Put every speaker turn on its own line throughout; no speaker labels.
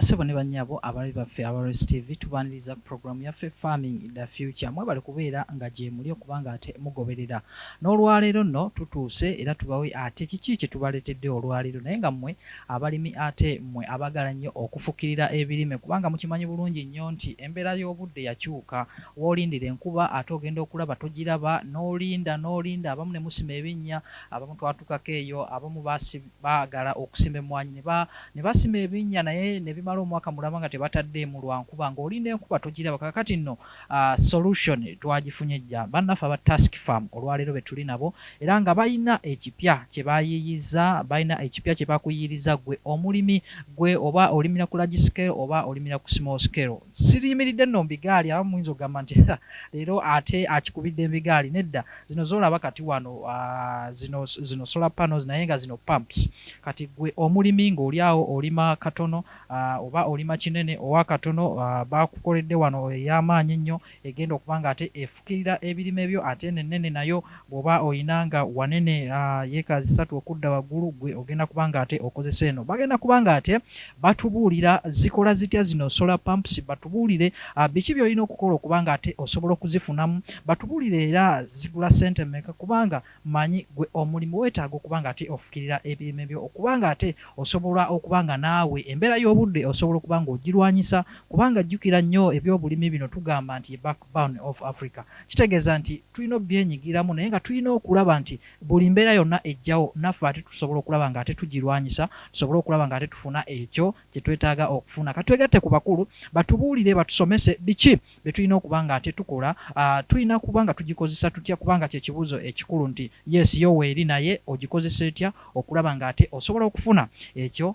Ssebo ne bannyabo abalabi baffe aba Race TV tubaaniriza ku pulogulaamu yaffe Farming the Future. Mwebale kubeera nga gyemuli okuba ng'ate mugoberera. N'olwaleero nno tutuuse era tubawe ate kiki kye tubaleetedde olwaleero naye nga mmwe abalimi ate mmwe abaagala nnyo okufukirira ebirime kubanga mukimanyi bulungi nnyo nti embeera y'obudde yakyuka. W'olindira enkuba ate ogenda okulaba togiraba, n'olinda n'olinda abamu ne musima ebinnya, abamu twatukako eyo, abamu baasi, Baagala okusima emmwanyi ne ba ne basima ebinnya naye ne bimala omwaka mulamba nga tebataddeemu lwa nkuba ng'olinda enkuba togiraba kaakati nno solution twagifunye dda bannaffe aba Tusk Farm olwaleero be tuli nabo era nga balina ekipya kye bayiiyizza balina ekipya kye bakuyiiriza ggwe omulimi ggwe oba olimira ku large scale oba olimira ku small scale siriyimiridde nno mu bigaali abamu muyinza okugamba nti leero ate akikubidde mu bigaali nedda zino zolaba kati wano uh, zino, zino solar panels naye nga zino pumps kati gwe omulimi ng'olyawo olima katono uh, oba olima kinene owa katono uh, bakukoledde wano ey'amaanyi ennyo egenda okuba nga ate efukirira ebirime byo ate eno ennene nayo bw'oba olina nga wanene uh, yeeka zisatu okudda waggulu gwe ogenda kuba nga ate okozesa eno bagenda kuba nga ate batubuulira zikola zitya zino solar pumps, batubuulire biki byolina okukola okubanga ate osobola okuzifunamu, batubuulire era zigula sente meka kubanga manyi gwe omulimi wetaaga okubanga ate ofukirira ebirime byo okubanga ate osobola okubanga naawe embeera y'obudde osobola okubanga ogirwanyisa kubanga jjukira nnyo ebyobulimi bino tugamba nti ye backbone of Africa kitegeeza nti tulina obyenyigiramu naye nga tulina okulaba nti Buli mbeera yonna ejjawo, naffe ate tusobola okulaba nga ate tugirwanyisa, tusobole okulaba nga ate tufuna ekyo kye twetaaga okufuna. Ka twegatte ku bakulu, batubuulire, batusomese biki bye tulina okuba nga ate tukola. Tulina kuba nga tugikozesa tutya? Kubanga kye kibuuzo ekikulu nti, yes, yo weeri, naye ogikozesa etya okulaba nga ate osobola okufuna ekyo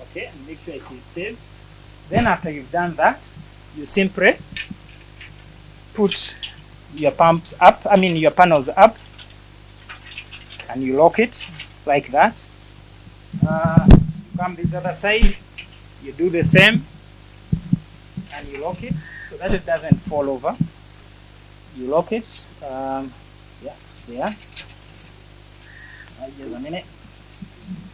okay and make sure it is saved then after you've done that you simply put your pumps up i mean your panels up and you lock it like that uh, you come this other side you do the same and you lock it so that it doesn't fall over you lock it um, yeah there uh, just a minute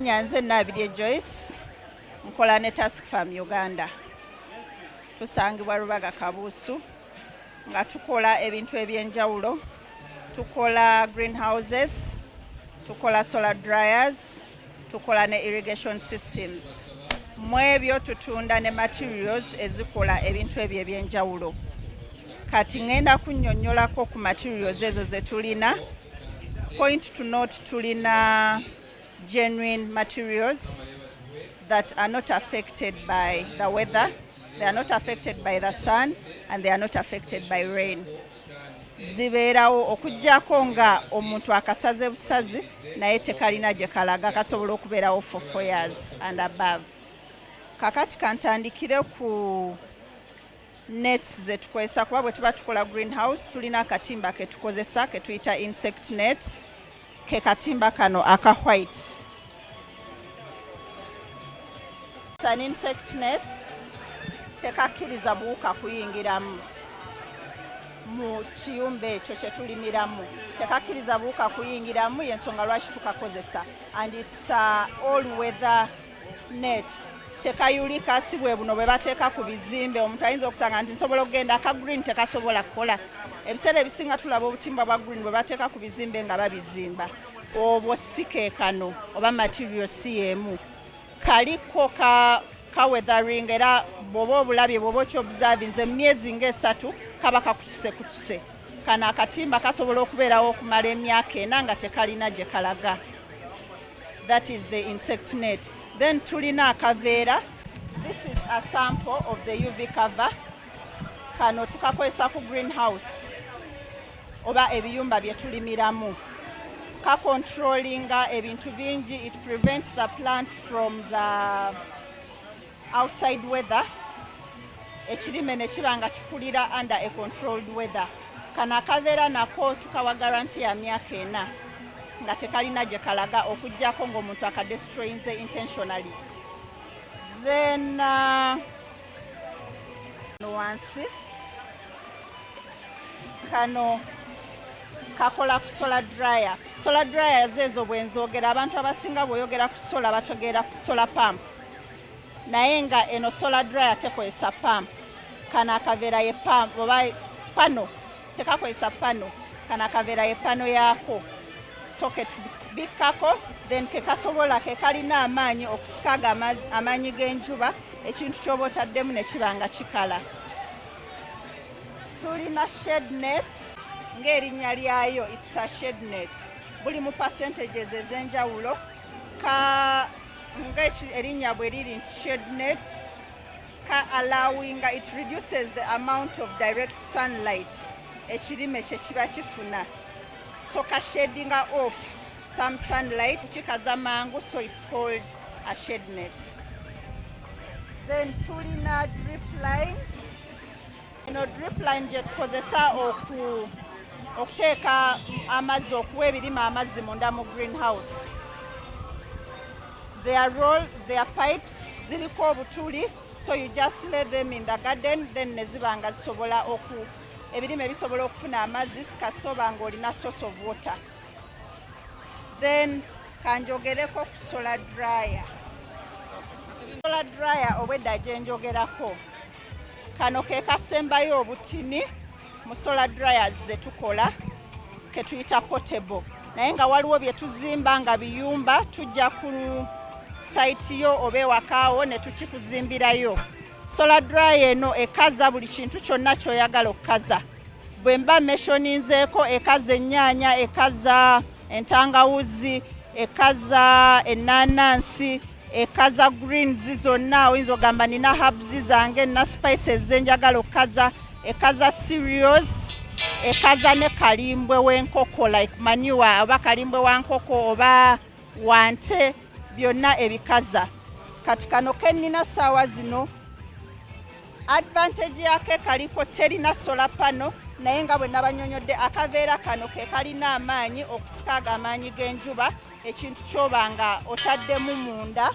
nyanze nabirye joyce nkola ne task farm uganda tusangibwa rubaga kabuusu nga tukola ebintu ebyenjawulo tukola greenhouses tukola solar dryers tukola ne irrigation systems mu ebyo tutunda ne materials ezikola ebintu ebyo ebyenjawulo kati ngenda kunyonyolako ku materials ezo zetulina point to note tulina genuine materials that are not affected by the weather they are not affected by the sun and they are not affected by rain zibeerawo okujjako nga omuntu akasaze busazi naye tekalina gye kalaga kasobola okubeerawo for four years and above kakati kantandikire ku nets zetukozesa kuba bwe tuba tukola greenhouse tulina akatimba ketukozesa ketuyita insect nets ke katimba kano aka white an insect net tekakkiriza buwuka kuyingiramu mu kiyumba ekyo kyetulimiramu tekakkiriza buwuka kuyingiramu yensonga lwaki tukakozesa and its uh, all weather net tekayulika si bwe buno bwe bateeka ku bizimbe omuntu ayinza okusanga nti nsobola okugenda aka green tekasobola kukola ebiseera ebisinga tulaba obutimba bwa green bwe bateeka ku bizimbe nga babizimba obwo si keekano oba material si yeemu kaliko ka ka weathering era bwoba obulabye bwoba okyobservinze mu myezi ngaesatu kaba kakutuse kutuse kano akatimba kasobola okubeerawo okumala emyaka ena nga tekalina gye kalaga that is the insect net then tulina akaveera this is a sample of the uv cover kano tukakozesa ku greenhouse oba ebiyumba bye tulimiramu ka controllinga ebintu bingi it prevents the plant from the outside weather ekirime ne kiba nga kikulira under a controlled weather kano akabeera nako tukawa garanti ya myaka ena nga tekalina gye kalaga okujjako ng'omuntu akadestroyinze intentionally then uh, wansi kano kakola ku solar dryer solar dryer zeezo bwenzogera abantu abasinga bwoyogera ku solar bategeera ku solar pump naye nga eno solar dryer tekozesa pump kano akaveera ye pump oba pano tekakozesa pano kano akaveera ye pano yaako socket bikkako then kekasobola kekalina amaanyi okusikaga amaanyi g'enjuba ekintu kyoba otaddemu nekiba nga kikala tulina shednet ng'erinnya lyayo itsa shednet buli mu percentages ez'enjawulo ka nga erinnya bwe liri nti shednet ka allowinga it reduces the amount of direct sunlight ekirime kye kiba kifuna so ka shedinga off some sunlight kikaza mangu so it's called a shednet then tulina drip lines eno drip line gye tukozesa oku okuteeka amazzi okuwa ebirime amazzi munda mu green house their role their pipes ziliko obutuli so you just lay them in the garden then ne ziba nga zisobola oku ebirime bisobola okufuna amazzi kasita oba nga olina source of water then kanjogereko ku solar dryer solar dryer obwedda gyenjogerako Kano ke kasembayo obutini mu solar dryers ze tukola ke tuyita portable naye nga waliwo bye tuzimba nga biyumba tujja ku sayiti yo oba ewakaawo ne tukikuzimbirayo. Solar dryer eno ekaza buli kintu kyonna ky'oyagala okukaza. Bwe mba meshoninzeeko ekaza ennyaanya, ekaza entangawuzi, ekaza ennaanansi. ekaza greens zonna oyinza ogamba nina habs zange nina spices zenjagala okukaza ekaza cereals ekaza ne kalimbwe wenkoko like manure oba kalimbwe wa nkoko oba wante byonna ebikaza kati kano kenina saawa zino advantage yake kaliko terina sola pano naye nga bwe nabanyonyodde akaveera kano ke kalina amaanyi okusika ago amaanyi g'enjuba ekintu kyoba nga otaddemu munda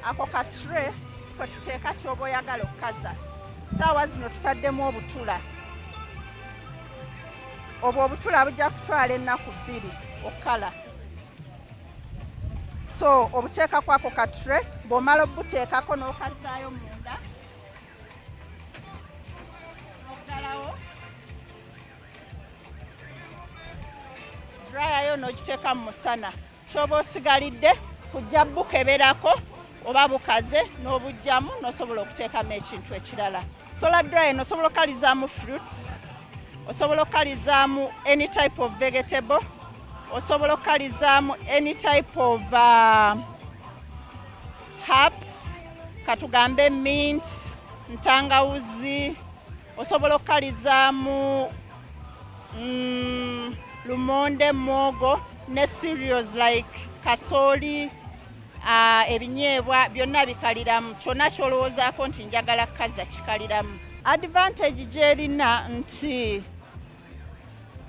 ako ka tre kwe tuteeka kyoba oyagala okukaza saawa zino tutaddemu obutula obwo obutula bujja kutwala ennaku bbiri okukala so obuteekakwako ka tre bw'omala obubuteekako n'okazaayo munda drayayo n'ogiteeka mu musana kyoba osigalidde kujja bukeberako oba bukaze n'obujjamu n'osobola okuteekamu ekintu ekirala solar dryer nosobola okukalizaamu fruits osobola okukalizaamu any type of vegetable osobola okukalizaamu any type of uh, herbs katugambe mint ntangawuzi osobola okukalizaamu mm, lumonde mwogo ne cereals like kasooli uh, ebinyeebwa byonna bikaliramu kyonna kyolowoozaako nti njagala kukaza kikaliramu advantage gyerina nti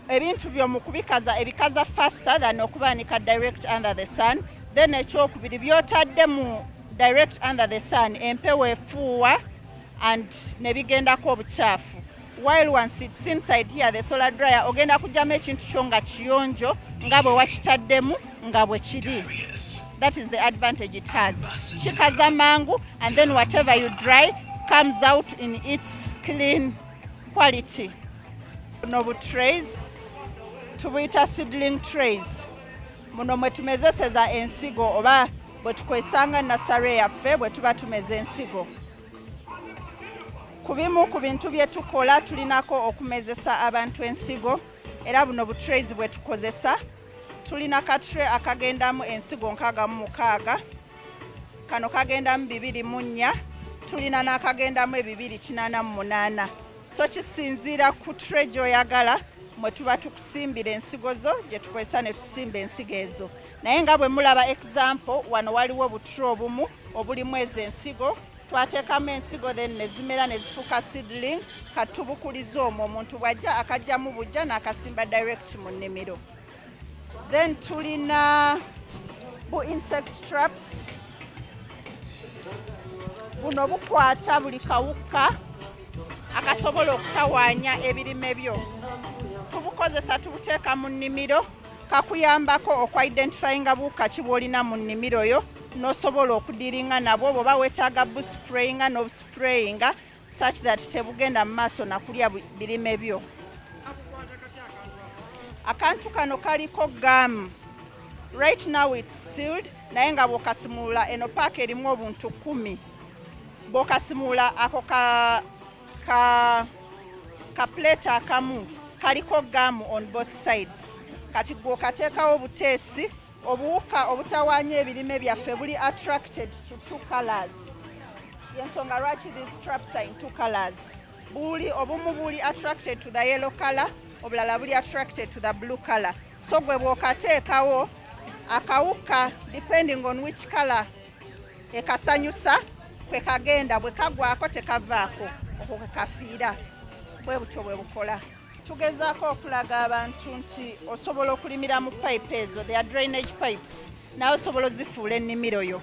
ebintu byo mu kubikaza ebikaza faster than okubaanika direct under the sun then ekyokubiri byotadde mu direct under the sun empewo efuuwa and nebigendako obukyafu while once it's inside here the solar dryer ogenda kujjamu ekintu kyo nga kiyonjo nga bwe wakitaddemu nga bwe kiri that is the advantage it has kikaza mangu and then whatever you dry comes out in its clean quality buno bu trays tubuyita seedling trays muno mwe tumezeseza ensigo oba bwe tukwesanga nasare yaffe bwe tuba tumeza ensigo ku bimu ku bintu bye tukola tulinako okumezesa abantu ensigo era buno bu trays bwe tukozesa tulina katre akagendamu ensigo nkaaga mu mukaaga kano kagendamu bibiri mu nnya tulina n'akagendamu ebibiri kinaana mu munaana so kisinziira ku tre gyoyagala mwe tuba tukusimbira ensigo zo gye tukozesa ne tusimba ensigo ezo naye nga bwe mulaba example wano waliwo obutre obumu obulimu ezo ensigo twateekamu ensigo then nezimera nezifuuka seedling katubukuliza omwo omuntu bwajja akajjamu bujja n'akasimba direct mu nnimiro then tulina bu insect traps buno bukwata buli kawukka akasobola okutawaanya ebirime byo tubukozesa tubuteeka mu nnimiro kakuyambako okwa identifyinga buwuka ki bwolina mu nnimiro yo nosobola okudiringa nabwo bwoba wetaaga busprayinga nobusprayinga such that tebugenda mu maaso nakulya birime byo. Akantu kano kaliko gamu right now it's sealed, naye nga bwokasimuula eno paaka erimu obuntu kumi bwokasimuula ako ka, ka, ka plate akamu kaliko gamu on both sides kati gwokateekawo buteesi Obuwuka obutawaanya ebirime byaffe buli attracted to two colors. Yensonga lwaki these traps are in two colors. Buli obumu buli attracted to the yellow color, obulala buli attracted to the blue color. So gwe bw'okateekawo akawuka depending on which color ekasanyusa kwe kagenda bwe kagwako tekavaako okwo kwe kafiira bwe butyo bwe bukola. tugezaako okulaga abantu nti osobola okulimira mu pipe ezo the drainage pipes naye osobola ozifuula ennimiro yo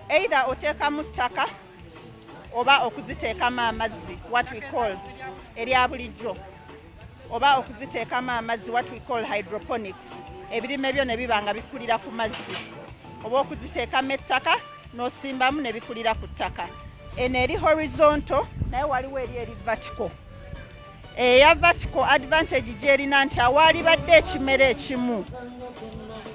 either oteekamu ttaka oba okuziteekamu amazzi what we call erya bulijjo oba okuziteekamu amazzi what we call hydroponics ebirime byo ne biba nga bikulira ku mazzi oba okuziteekamu ettaka n'osimbamu ne bikulira ku ttaka. Eno eri horizonto naye waliwo eri eri vertical. Eya eh, vertical advantage gyerina nti awaalibadde ekimera ekimu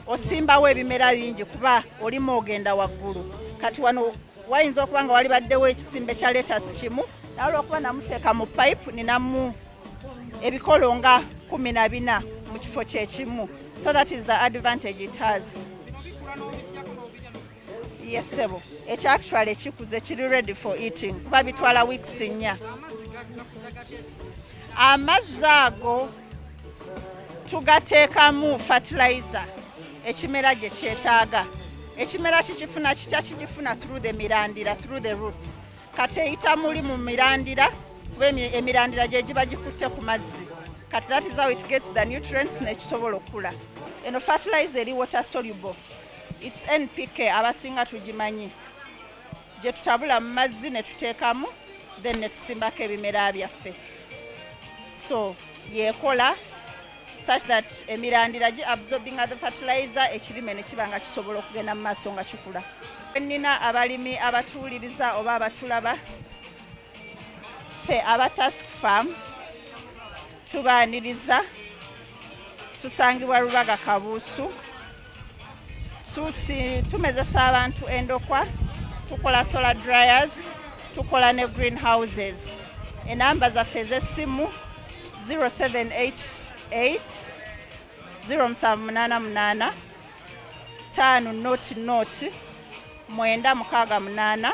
osimbawo ebimera bingi kuba olimu ogenda waggulu. Kati wano wayinza okuba nga walibaddewo ekisimbe kya letasi kimu naye olwokuba namuteeka mu pipe ninamu ebikolo nga kumi na bina mu kifo kyekimu so that is the advantage it has ye ssebo ekyo actually ekikuze kiri ready for eating kuba bitwala weeks nnya amazzi ago tugateekamu fertilizer ekimera gye kyetaaga ekimera kikifuna kitya kigifuna through the mirandira through the roots kati eyita muli mu mirandira kuba emirandira gye giba gikutte ku mazzi kati that is how it gets the nutrients nekisobola okukula eno fertilizer eri water soluble It's NPK abasinga tugimanyi gye tutabula mu mazzi ne tuteekamu then ne tusimbako ebimera byaffe so yekola such that emirandira gi absorbing the fertilizer ekirime ne kiba nga kisobola okugenda mu maaso nga kikula. Nnina abalimi abatuwuliriza oba abatulaba ffe aba task farm tubaaniriza tusangibwa Rubaga Kabuusu. susi tumezesa abantu endokwa tukola solar dryers tukola ne green houses enamba zaffe ez'essimu 0788 0788 5 not not mwenda mukaaga munaana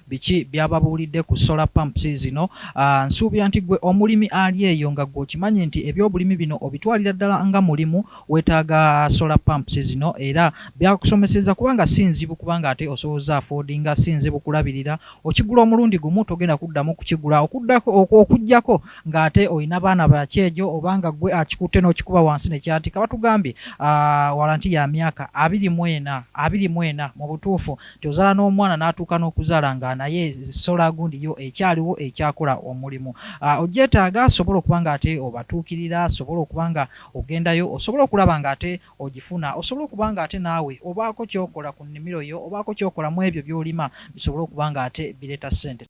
Biki byababuulidde ku solar pumps zino? Nsuubira nti gwe omulimi ali eyo nga gwe okimanyi nti ebyobulimi bino obitwalira ddala nga mulimu wetaaga solar pumps zino era byakusomeseza kubanga si nzibu kubanga ate osobola oza affordinga si nzibu kulabirira okigula omulundi gumu togenda kuddamu kukigula okuddako okujjako nga ate olina baana bakyejo oba nga gwe akikutte n'okikuba wansi nekyatika batugambye walanti ya myaka abiri mwena abiri mwena mu butuufu nti ozala n'omwana n'atuuka n'okuzaala nga naye solar gundi yo ekyaliwo ekyakola omulimu ah, ogyetaaga sobola okuba nga ate obatuukirira sobola okuba nga ogendayo osobola okulaba nga ate ogifuna osobola okuba nga ate naawe obaako kyokola ku nnimiro yo obaako kyokola mu ebyo byolima bisobole okuba nga ate bireeta ssente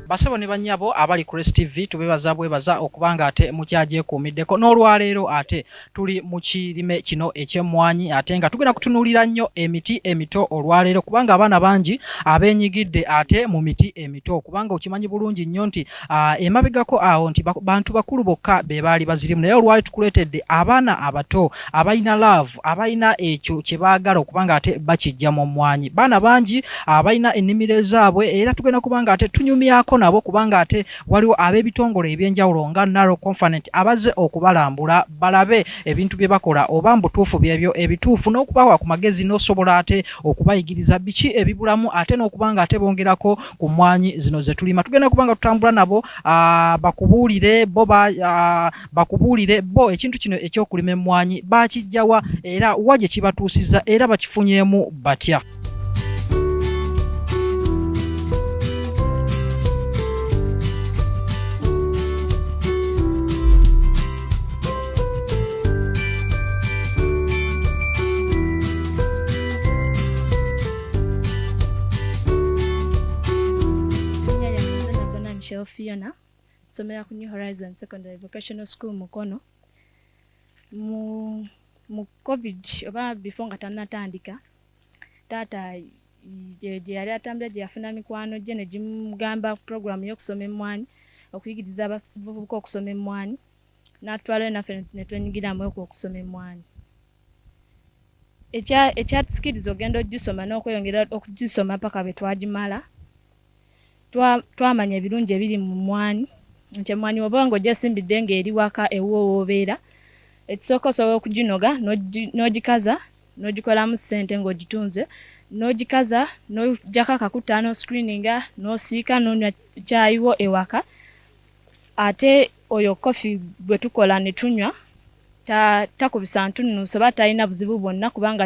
Basebo ne banyabo abali ku Rest TV tubebaza bwebaza okubanga ate mukyagyekuumiddeko n'olwaleero ate tuli mu kirime kino eky'emmwanyi ate nga tugenda kutunuulira nnyo emiti emito olwaleero kubanga abaana bangi abenyigidde ate mu miti emito kubanga okimanyi bulungi nnyo nti emabegako awo nti bantu bakulu bokka be baali bazirimu naye olwali tukuleetedde abaana abato abalina laavu abalina ekyo kye baagala okuba nga ate bakijja mu mmwanyi baana bangi abalina ah, ennimiro ezaabwe era tugenda kuba nga ate tunyumyako nabo kubanga ate waliwo ab'ebitongole eby'enjawulo nga naro confanent abazze okubalambula balabe ebintu bye bakola oba mbutuufu byebyo ebituufu n'okubawa ku magezi n'osobola ate okubayigiriza biki ebibulamu ate n'okuba nga ate bongerako ku mmwanyi zino ze tulima tugenda kuba nga tutambula nabo ah, bakubuulire bo ba ah, bakubuulire bo ekintu kino eky'okulima emmwanyi baakijjawa era wa gye kibatuusizza era bakifunyeemu batya
Fiona nsomera ku new horizon secondary vocational school mukono mu mu covid oba before nga tanatandika taata gye yali atambula gye yafuna mikwano gye ne gimugamba puroguramu y'okusoma emmwanyi okuyigiriza abavubuka okusoma emmwanyi n'atwalayo naffe ne twenyigiramu okwo okusoma emmwanyi ekyatusikiriza ogenda ogisoma n'okweyongera okugisoma paka bwe twagimala twamanya ebirungi ebiri mu mmwanyi nti emmwanyi woba nga ojasimbidde nga eri waka ewuwo wobeera ekisooka osobola okuginoga n'ogikaza n'ogikolamu ssente ng'ogitunze n'ogikaza n'ojjako akakuta n'oscreeninga n'osiika n'onywa kyayiwo ewaka ate oyo koffi gwe tukola ne tunywa takubisa ntunnuuso oba talina buzibu bwonna kubanga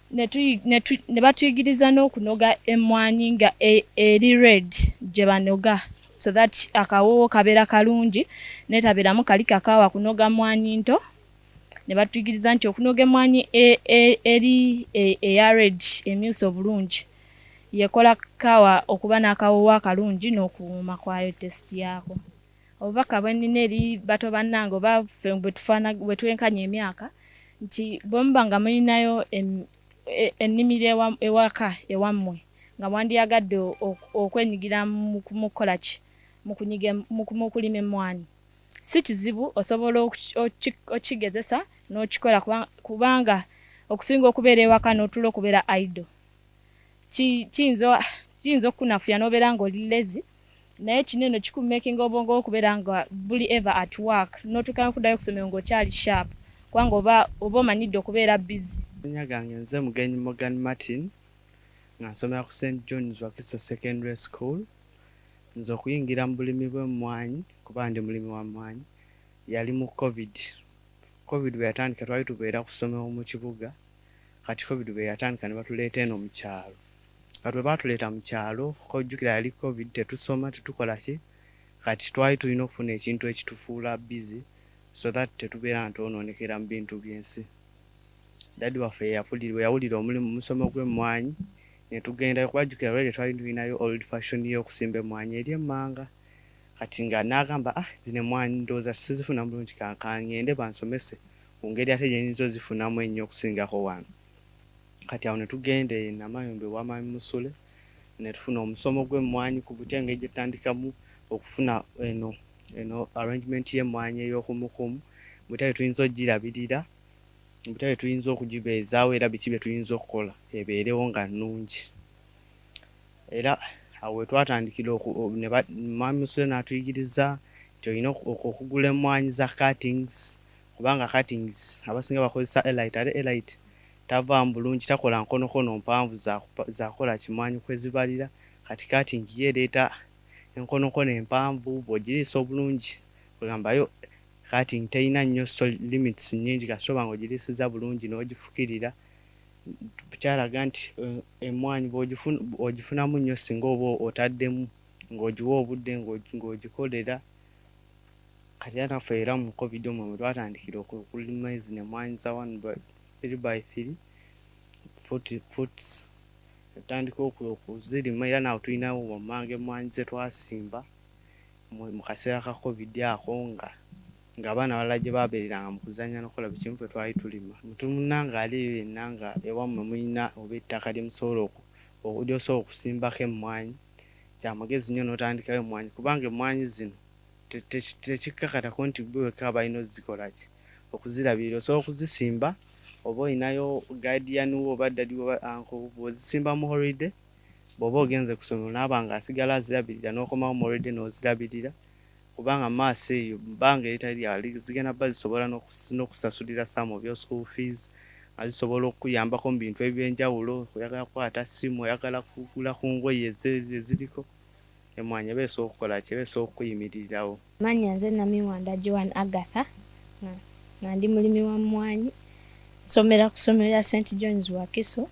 ne batuyigiriza n'okunoga emmwanyi nga e, eri red gye banoga so that akawoowo kabeera kalungi netabeeramu kali kakaawa kunoga mmwanyi nto ne batuyigiriza nti okunoga emmwanyi e, e, eri eya red emyusa obulungi yekola kaawa okuba n'akawoowo akalungi n'okuwuuma kwayo test yaako obubaka bwenina eri bato bannange oba ffe bwe twenkanya emyaka nti bwe muba nga mulinayo e, ennimiro ewaka ewammwe nga mwandiyagadde okwenyigira mu kukola ki mu kulima emmwanyi si kizibu osobola okukigezesa n'okikola kubanga okusinga okubeera ewaka n'otula okubeera idle kiyinza okukunafuya n'obeera ng'oli lezi Naye kino eno kiku makinga obwongo okubera nga buli ever at work notuka nokudayo kusomero nga okyali sharp kubanga oba oba omanyidde okubeera busy. Amannya gange nze
Mugenyi Morgan Martin nga nsomera ku Saint John's Wakiso Secondary School. Nze okuyingira mu bulimi bw'emmwanyi kuba ndi mulimi wa mmwanyi yali mu Covid. Covid bwe yatandika twali tubeera ku ssomero mu kibuga kati Covid bwe yatandika ne batuleeta eno mu kyalo. Kati bwe baatuleeta mu kyalo, kojjukira yali covid, tetusoma, tetukola ki, kati twali tulina okufuna ekintu ekitufuula busy so that tetubeera nga twonoonekera mu bintu by'ensi. Daddy waffe ye yapulira, bwe yawulira omulimu mu musomo gw'emmwanyi ne tugendayo kuba jjukira already twali tulinayo old fashion y'okusimba emmwanyi eri emmanga kati nga n'agamba ah zino emmwanyi ndowooza sizifunamu bulungi ka ngende bansomese ku ngeri ate gye nyinza ozifunamu ennyo okusingako wano. Kati awo netugenda e Namayumba ewa Mwami Musule netufuna omusomo gw'emmwanyi ku butya engeri gyetutandikamu okufuna eno eno arrangement y'emmwanyi ey'okumukumu butya bwetuyinza okugirabirira, butya bwetuyinza okugibeezaawo era biki byetuyinza okukola ebeerewo nga nnungi. Era awo wetwatandikira oku ne ba Mwami Musule n'atuyigiriza nti olina oku okugula emmwanyi za cuttings kubanga cuttings abasinga bakozesa elite ate elite Tavaamu bulungi takola nkonokono mpanvu zakola kimwanyi kwezibalira kati kati njiyo ereeta enkonokono empanvu bwojiriisa obulungi kwegamba yo kati nji terina nnyo limits nnyingi kasita oba nga ojiriisiza bulungi nojifukirira kyalaga nti emmwanyi ojifunamu nnyo singa oba otaddemu nga ojiwa obudde nga ojikolera kati era naffe era mu covid omwo mwetwatandikira okulima zino emmwanyi zawano. 3 by 3 40 puts natandika okuzirima era naawe tulinawo wammanga emmwanyi ze twasimba mu kaseera ka covid ako nga ng'abaana abalala gye baabeereranga mu kuzannya n'okukola buli kimu ffe twali tulima omuntu munnange ali eyo yenna nga ewammwe mulina oba ettaka lye musobola ly'osobola okusimbako emmwanyi kya magezi nnyo n'otandikayo emmwanyi kubanga emmwanyi zino tekikkakatako nti ggwe wekka balina okuzikola ki, okuzirabirira. Osobola okuzisimba oba olinayo guardian wo oba daddy wo oba uncle wo bw'ozisimba mu holiday bw'oba ogenze ku ssomero n'aba ng'asigala azirabirira n'okomawo mu holiday n'ozirabirira kubanga mu maaso eyo mu bbanga eritali lya wala zigenda kuba zisobola n'okusasulira some of your school fees nga zisobola okukuyambako mu bintu eby'enjawulo oyagala kukwata ssimu oyagala kugula ku ngoye eziriko. Emmwanyi eba esobola okukola ki? Eba esobola okukuyimiririrawo. Amannya, Nze
Namiwanda Joan Agatha nga nga ndi mulimi wa mmwanyi. Nsomera ku ssomero lya Saint John's Wakiso.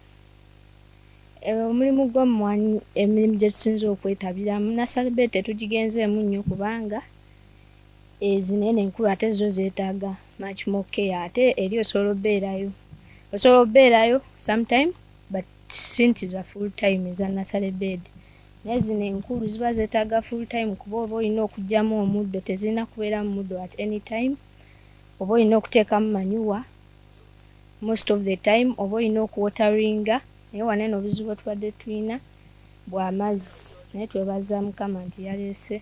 Omulimu gw'emmwanyi emirimu gye tusinze okwetabiramu nasale beedi tetugigenzeemu nnyo kubanga ezinene enkulu ate zo zeetaaga much more care ate eri osobola obeerayo osobola obeerayo sometime but since za full time eza nasale beedi. Naye zino enkulu ziba zetaga full time kuba oba olina okujamu omuddo tezirina kuberamu muddo at any time oba olina okutekamu manyuwa most of the time oba olina okuwoteringa naye wano eno obuzibu bwetubadde tulina bwamazzi naye twebaza mukama nti yaleese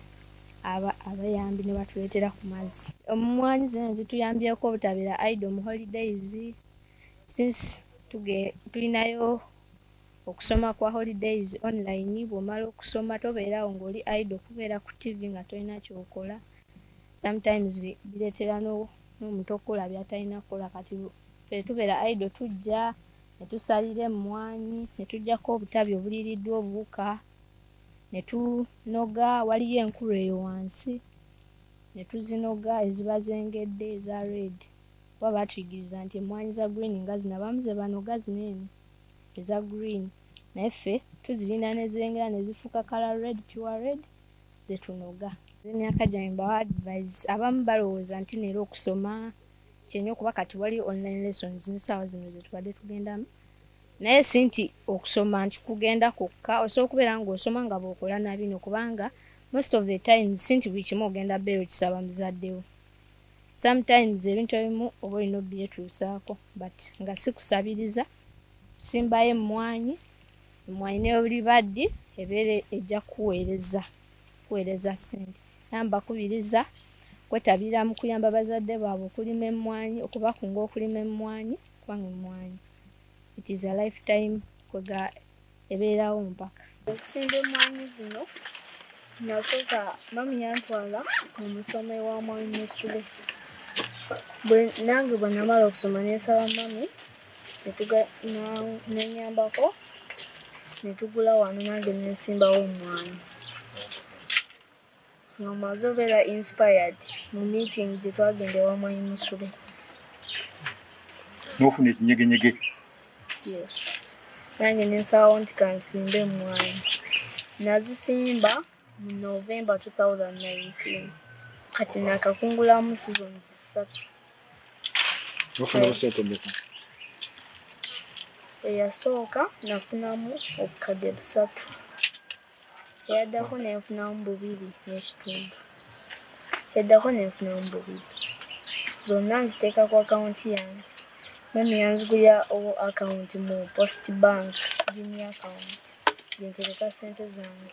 aba abayambi nebatuleetera ku mazzi omumwanyi zino zituyambyeko obutabeera idle mu holidays since tulinayo Okusoma kwa holidays online bwomala okusoma tobeera awo nga oli idle kubeera ku TV nga tolina kyokola sometimes biretera no nomuntu okukola byatalina kukola kati fe tubeera idle tujja netusalira emmwanyi netujjako obutabi obuliiriddwa obuwuka netunoga waliyo enkulu eyo wansi netuzinoga eziba zengedde eza red kuba batuyigiriza nti emmwanyi za green nga zino abamu zebanoga zino eno eza green naye ffe tuzirinda nezengera nezifuuka kala red pure red zetunoga emyaka gyange mbawa advise abamu balowooza nti neera okusoma kyenyo kuba kati wali online lessons nsaawa zino zetubadde tugendamu naye si nti okusoma nti kugenda kwokka osobola okubeera ngaosoma nga bwokola nabino kubanga most of the times si nti buli kimu ogenda beera okisaba muzaddewo Sometimes ebintu ebimu oba olina obyetuusaako but nga sikusabiriza simbayo emmwanyi emmwanyi neolibaddi ebeera ejja kukuweereza kuweereza ssente era mbakubiriza kwetabira mu kuyamba bazadde baabwe okulima emmwanyi okubakunga okulima emmwanyi kubanga emmwanyi it is a life time kwega ebeerawo mpaka. Okusimba emmwanyi zino nasooka mami yantwala mu musomo ewa mwami Musule. Nange bwe namala okusoma ne nsaba mami ne nnyambako ne tugula wano nange ne nsimbawo emmwanyi. nga omaze obeera inspired mu meeting gye twagenda ewa mwanyi musule
n'ofuna ekinyegenyege yes
nange nensalawo nti kansimbe emwanyi nazisimba mu november 2019 kati nakakungulamu season zisatu eyasooka nafunamu obukadde busatu eyaddako nenfunamu bubiri n'ekitundu eddako nenfunamu bubiri zonna nziteeka ku akawunti yange mami yanzigulira owo akawunti mu post bank gini akawunti gyentereka ssente zange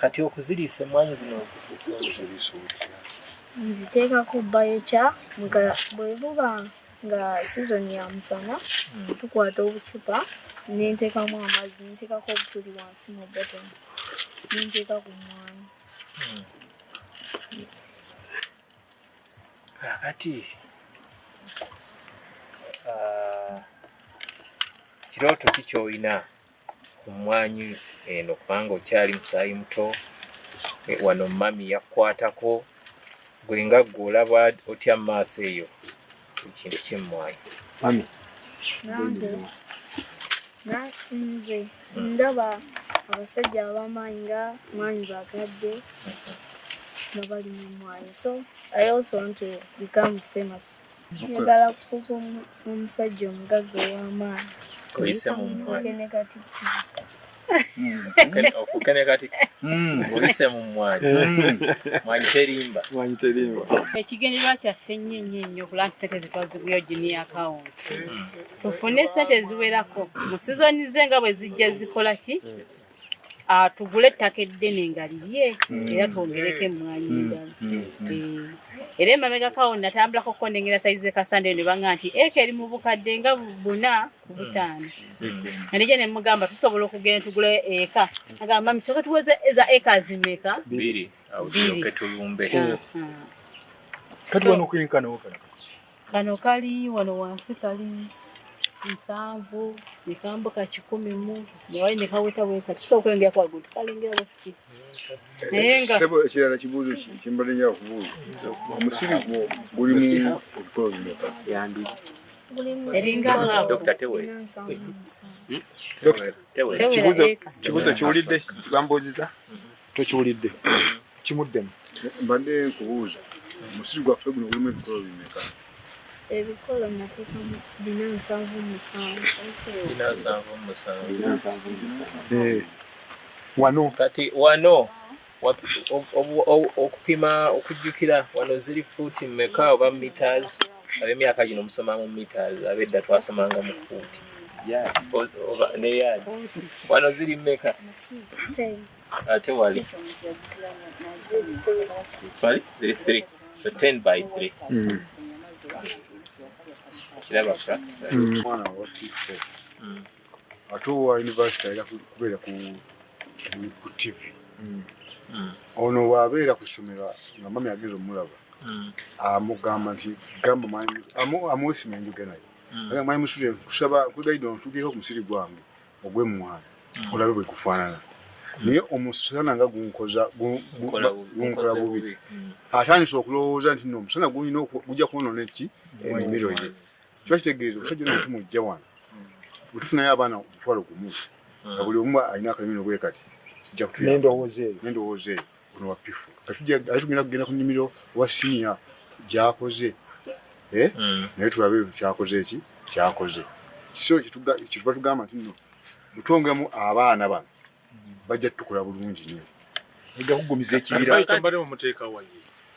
Kati okuziriisa emmwanyi zino nziteeka
ku bayokya nga bwe buba nga sizoni ya musana hmm. tukwata obucupa nenteekamu amazzi nenteekako obutuli wansi mu boton nenteeka ku mmwanyi
hmm. kakati ah, kirooto ki kyolina ku mmwanyi eno kubanga okyali musaayi muto eh, wano mami yakukwatako gwe nga gwe olaba otya mu maaso eyo ekintu kyemmwanyi mami
nze ndaba abasajja abamaanyi nga mwanyi bagadde nga bali mu mwanyi so i also want to become famous njagala kufuuka omusajja omugagga ow'amaanyi oyise mu
mmwe ne kati ki ofuuke ne kati oyise mu mmwanyi mwanyi terimba mwanyi terimba
ekigendererwa kyaffe ennyo ennyo ennyo okulaba nti sente zetwaziguyo gini akawunti tufune sente eziwerako mu sizoni ze nga bwe zijja zikola ki tugule ettaka eddene nga lirye mm. era twongereko emmwanyi mm. endala mm. eh, era emabegakawo natambulako okukondengera saizi zekasandeyo ne banga nti eka eri mu bukadde nga buna ku butaano anija ne mugamba tusobola okugenda tugula eka agamba misoke tuweze eza eka zimeka biri
tulumbe ah, ah.
kati wano kwenkanawo kala Kano kali
wano wansi kali nsanvu nekambuka kikumi mu newali nekaweta weka tusobola okwengera ku waggulu tukalengera bwetuti naye nga
sebo ekirala kibuuzo ki kyembadde nja kubuuza omusiri gwo gulimu ebikolo bimeka yandi eringa
dokita tewe
hmm? dokita
tewe kibuuzo kiwulidde bambuuziza Tokiwulidde. Kimuddemu. Mbadde nkubuuza. Omusiri gwaffe guno gulimu ebikolo bimeka? Ebikolo
nateeka bina nsanvu musanvu. Bina nsanvu
musanvu. Bina nsanvu musanvu. Eh. Wano.
Kati wano.
Okupima okujjukira wano ziri fuuti mmeka oba meters ab'emyaka gino musoma mu meters ab'edda twasomanga mu fuuti. Yeah. Oba ne yaadi. Wano ziri mmeka?
Uh, tewali
twali ziri three so ten by three mm. kiraba mwana wa
tifo mm. ate owa univesity ayina kubeera ku tv mm. ono wabeera ku ssomero nga mami ageza omulaba amugamba nti gamba amuwesima enjoge naye mwanyi musule kusaba nkugaidwa ntugeho omusiri gwange ogw'emmwanyi olabe bwe gufaanana naye omusana nga gunkola bubi mm. atandise okulowooza nti no omusana gulina gujja kwonona eki emimiro ye kiba kitegeeza omusajja ona tumujja wano wetufunayo abaana omutwalo gumu nga buli omu alina akalimino bwe kati kijja kutuyendowooza eyo ono wapifu atujja atugenda kugenda ku nimiro wa senior gyakoze eh mm. naye tulabe kyakoze ki kyakoze so kituga kituba tugamba tino mutongemu abaana bano bajja tukula bulungi nyo ega kugumiza ekibira kambare mu muteka wayi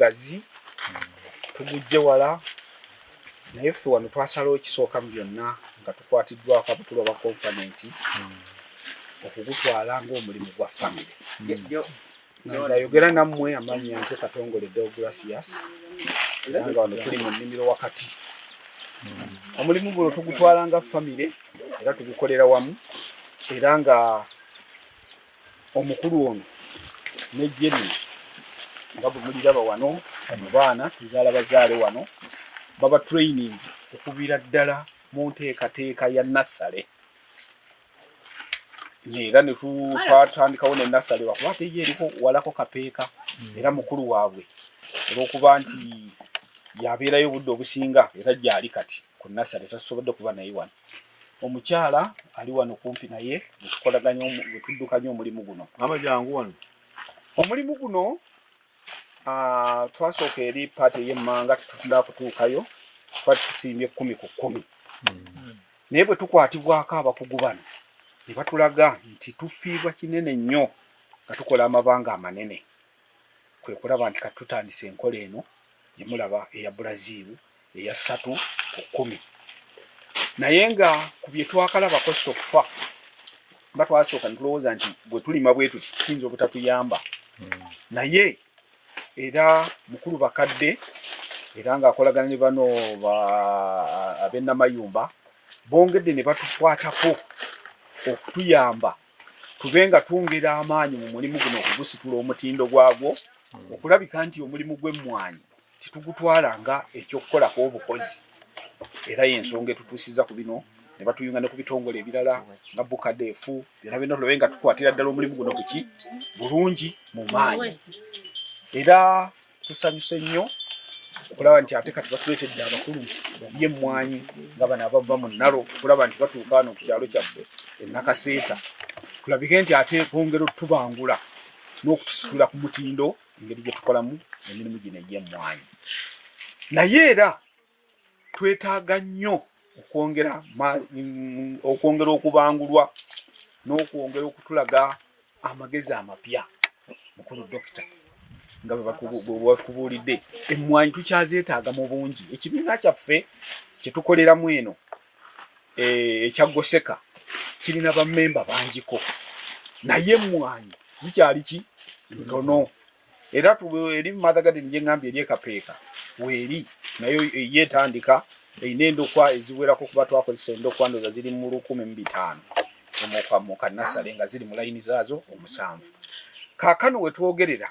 mugazi tugujje wala naye ffe wano twasalawo ekisooka mu byonna nga tukwatiddwako abakulu aba konfanenti okugutwala ngaomulimu gwa famire nga nze ayogera nammwe amannya nze katongole deogratias era nga wano tuli mu nnimiro wakati omulimu guno tugutwala nga famire era tugukolera wamu era nga omukulu ono nejje lino nga bwe muliraba wano mu baana tuzaala bazaale wano baba trainings okuviira ddala mu nteekateeka ya nassale era ne twatandikawo ne nasale lwakuba ate ye eriko walako kapeeka hmm. era mukulu waabwe olwokuba nti yabeerayo obudde obusinga era gyali kati ku nasale tasobodde kuba naye wano omukyala ali wano kumpi naye netukolaganya wetuddukanya omulimu guno
omulimu
guno ah, twasooka eri paati ey'emmanga tetutunda kutuukayo twali tusimbye kkumi ku kkumi hmm. naye bwe tukwatibwako abakugu bano ne batulaga nti tufiirwa kinene nnyo nga tukola amabanga amanene kwe kulaba nti katutandisa enkola eno gye mulaba eya brazil eya ssatu ku kkumi naye nga ku bye twakalabako soffa nga twasooka ne tulowooza nti bwe tulima bwe tuti tuyinza obutatuyamba hmm. naye era mukulu bakadde era ng'akolagana ne bano ab'ennamayumba bongedde ne batukwatako okutuyamba tube nga twongera amaanyi mu mulimu guno okugusitula omutindo gwagwo hmm. okulabika nti omulimu gw'emmwanyi titugutwala nga ekyokukolako obukozi era yensonga etutuusiza ku bino ne batuyunga ne ku bitongole ebirala nga bukadefu byona byona tulabe nga tukwatira ddala omulimu guno kuki bulungi mu maanyi era tusanyuse nnyo okulaba nti ate kati batuleetedde abakulu babye emmwanyi nga bano abava mu nnalo okulaba nti batuuka wano ku kyalo kyaffe enakaseeta kulabike nti ate bongera otubangula n'okutusitula ku mutindo engeri gye tukolamu emirimu gino egy'emmwanyi naye era twetaaga nnyo okwongera okwongera okubangulwa n'okwongera okutulaga amagezi amapya mukulu dokita nga bwebatubuulidde emmwanyi tukyazeetaaga mu bungi ekibiina kyaffe kyetukoleramu eno eh, ekya Goseka kirina bamemba bangiko naye emmwanyi zikyali ki ntono era eri Mother Garden gye ngambye eri ekapeeka weeri nayo ye etandika erina endokwa eziwerako kuba twakozesa endokwa ndoza ziri mu lukumi mu bitaano mu kanasale nga ziri mu layini zaazo omusanvu kaakano we twogerera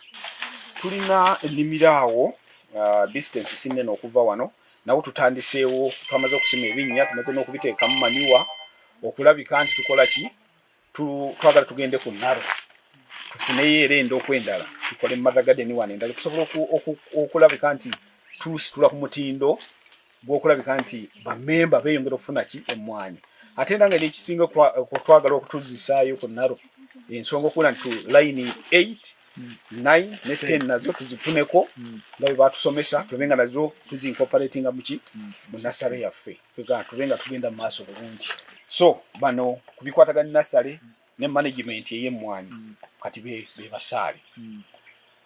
tulina ennimiro awo uh, distance sinnene okuva wano nawo tutandiseewo twamaze okusima ebinnya tumaze n'okubiteekamu maniwa okulabika nti tukola ki twagala tugende ku naro tufuneyo era endoku endala tukole mother garden wano endala okusobola okulabika nti tusitula ku mutindo gw'okulabika nti bamemba beeyongera okufuna ki emmwanyi ate era nga nekisinga twagala okutuzisaayo ku naro ensonga okubula nti layini 8 nine ne ten nazo tuzifuneko hmm. nga bwe batusomesa tube nga nazo tuzincooperatinga muki hmm. mu nasale yaffe tube nga tugenda mu maaso bulungi so bano ku bikwatagana nasale hmm. ne management ey'emmwanyi kati be basaale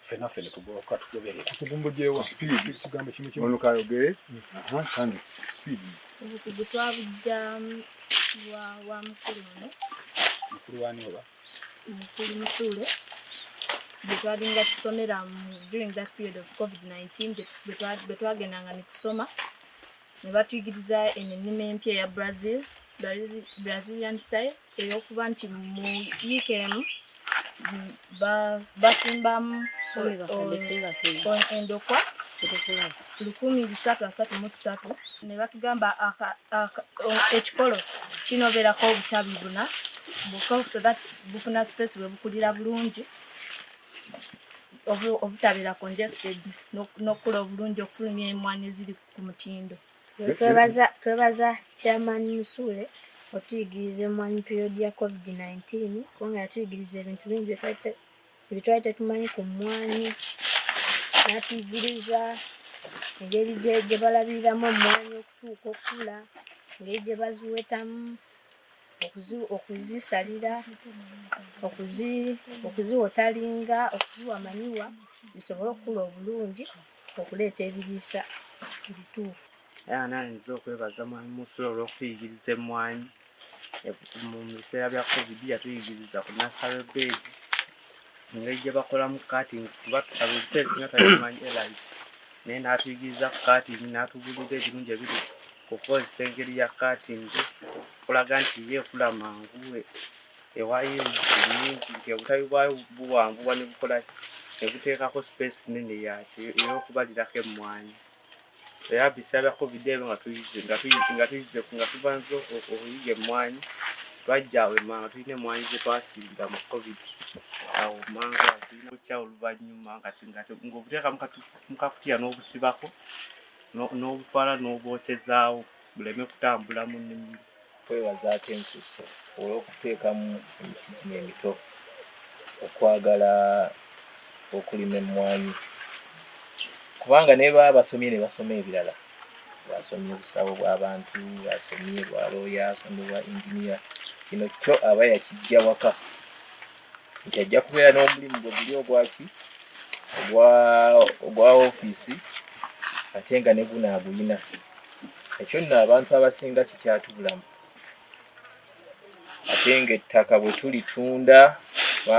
ffena ffe ne tugoloka tugoberera tugumbugyewo
kigambo kimu kimu kayogere kandi speed obukugu
twabujja wa mukulu muno
mukulu wani oba mukuli
musuule bwetwalinga tusomera during that period of covid-19 bwetwagendanga netusoma nebatuyigiriza eno ennima empya eya brazil brazilian style eyokuba nti mu yiika emu basimbamu endokwa lukumi bisatu asatu mu kisatu ne batugamba ekikolo kinobeerako obutabi buna so that bufuna space bwe bukulira bulungi obutabeera congested n'okukula obulungi okufulumya emwanyi eziri ku mutindo
twebaza chairman musuule otuyigiriza emwanyi period ya covid-19 kubanga yatuyigiriza ebintu bingi byetwali tetumanyi ku mmwanyi natuyigiriza engeri gye balabiriramu emmwanyi okutuuka okukula engeri gye baziwetamu okuzisalira okuziwotalinga okuziwa manyiwa zisobole okukula obulungi okuleeta ebiriisa ebituufu era nanyiza
okwebaza mwami musula olw'okutuyigiriza emmwanyi mu biseera bya covid yatuyigiriza ku nasale bed engeri gye bakolamu katings kuba ebiseera esinga tabimanyi elai naye n'atuyigiriza ku katingi n'atubulira ebirungi ebiri okukozesa engeri ya katingi okulaga nti ye ekula mangu ewayo nyingi nti obutabi bwayo buwanvuwa ne bukola ne buteekako sipeesi nene yakyo ey'okubalirako emmwanyi era biseera bya covid ebyo nga tuyize nga tuyize nga tuyize nga tubanza okuyiga emmwanyi twajja wema nga tulina emmwanyi ze twasinda mu covid awo manga tulina okukya oluvannyuma nga ngaobuteeka mukakutya n'obusibako n'obutwala n'obwokyezaawo buleme kutambula mu nnimiro. Kwebazaako
ensusu olw'okuteekamu emitimu emito okwagala okulima emmwanyi kubanga ne baba basomye ne basoma ebirala bwasomye obusawo bw'abantu bwasomye bwa looya asomye bwa inginiya kino kyo aba yakijja waka nti ajja kubeera n'omulimu gwe guli ogwaki ogwa ofiisi ate nga ne guno agulina ekyo nno abantu abasinga kikyatubulamu ate nga ettaka bwe tulitunda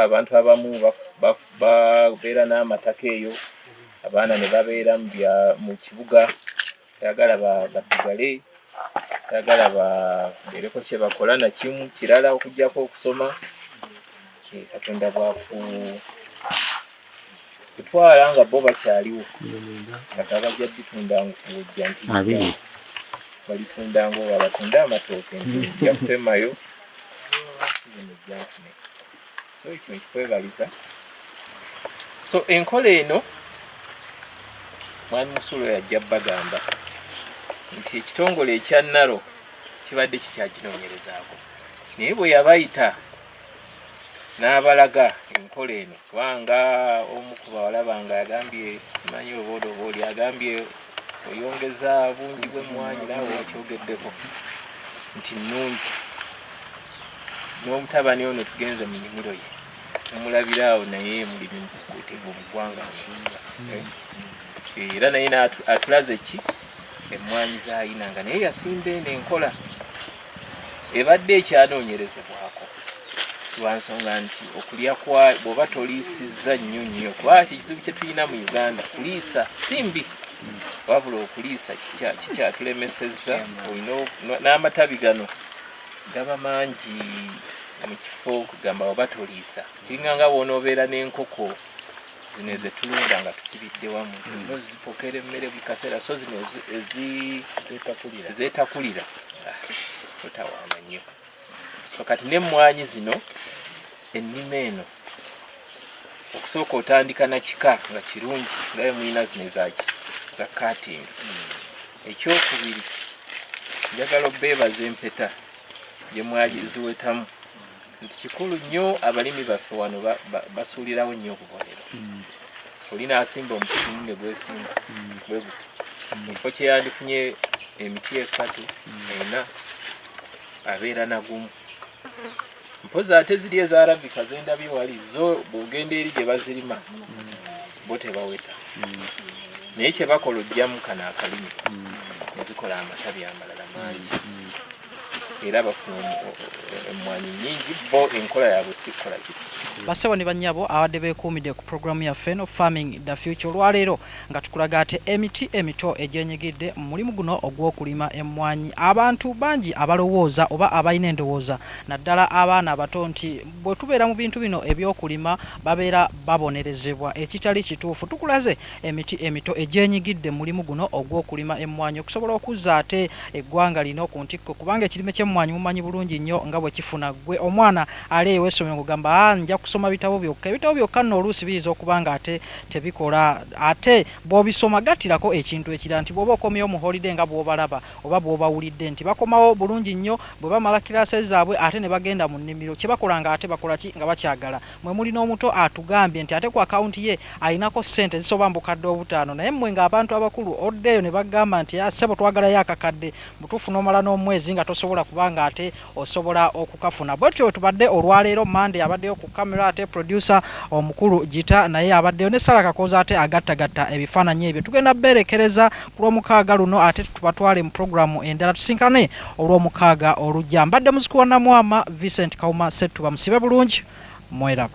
abantu abamu babeera n'amataka eyo abaana ne babeera mu kibuga tayagala basigale tayagala babeereko kyebakola nakimu kirala okujjako okusoma eh, katonda bwaku kutwala nga bo bakyaliwo kati abajja bitunda nkujja nti balitunda ngaoba batunda amatooke nti ojja kutemayo so kwebaliza so enkola eno mwami musulo yajja bagamba nti ekitongole ekya naro kibadde kikyaginoonyerezaako naye bwe yabayita n'abalaga enkola eno kubanga omu ku bawala bange agambye simanyi obooda oba oli agambye oyongeza bungi bw'emmwanyi naawe wakyogeddeko nti nnungi n'omutabani ono tugenze mu nimiro ye tumulabira awo naye mulimu mukuutivu mu ggwanga nsinga eh, era naye atulaze ki emmwanyi zayina nga naye yasimba eno enkola ebadde ekyanoonyerezebwako lwansonga nti okulya kwa bwoba toliisizza nnyo nnyo kuba ekizibu kye tulina mu uganda kuliisa si mbi wabula okuliisa kikyatulemesezza olina n'amatabi gano gaba mangi mu kifo okugamba oba toliisa kiringa nga bwonoobeera n'enkoko zino ezetulunda nga tusibidde wamu mm. nozipokera emmere buli kaseera so zino ezetakulira ah, totawaana nnyo so kati n'emmwanyi zino ennima eno okusooka otandika na kika nga kirungi ngayo mulina zino ezaki za kating ekyokubiri njagala obeebaza empeta gyemwaziwetamu nti kikulu nnyo abalimi baffe wano basuulirawo nnyo obubonero mm. olina asimba omutimu ne gwesimba mm. bwe guti mm. ekifo kyeyandifunye emiti esatu ena abeera nagumu mpozi ate ziri eza arabika zendabye wali zo bwogenda eri gye bazirima bo tebaweta naye kyebakola ojjamu kano akalimi nezikola amatabi amalala mangi era bafuna emmwanyi nyingi bo enkola yabwe sikkola kiti basebo ne banyabo
abadde bekuumidde ku programu yaffe eno farming the future olwaleero nga tukulaga ate emiti emito egyenyigidde mu mulimu guno ogw'okulima emmwanyi. Abantu bangi abalowooza oba abalina endowooza naddala abaana abato nti bwe tubeera mu bintu bino eby'okulima babeera babonerezebwa ekitali kituufu. Tukulaze emiti emito egyenyigidde mu mulimu guno ogw'okulima emmwanyi okusobola okuzza ate eggwanga lino ku ntikko kubanga ekirime ky'emmwanyi mumanyi bulungi nnyo nga bwe kifuna. Ggwe omwana ali ew'essomero ng'ogamba haa nja kusoma bitabo byokka, ebitabo byokka nno oluusi biyinza okuba ng'ate tebikola ate bw'obisoma gattirako ekintu ekirala nti bw'oba okomyewo mu holide nga bw'obalaba oba bw'obawulidde nti bakomawo bulungi nnyo bwe bamala kiraase zaabwe ate ne bagenda mu nnimiro kye bakola nga ate bakola ki nga bakyagala mwe muli n'omuto atugambye nti ate ku akawunti ye alinako ssente zisoba mu bukadde obutaano naye mmwe ng'abantu abakulu oddeeyo ne bagamba nti ah, ssebo twagalayo akakadde butuufu n'omala n'omwezi nga tosobola kuba ng'ate osobola okukafuna bwetyo tubadde olwaleero mande abaddeyo ku camera ate producer omukulu gita naye abaddeyo ne sala kakooza ate agattagatta ebifaananyi ebyo tugenda beerekereza ku lwomukaaga luno ate tubatwale mu programu endala tusinkane olwomukaaga olujja mbadde muzikuwa namwama vincent kauma settuba musibe bulungi mweraba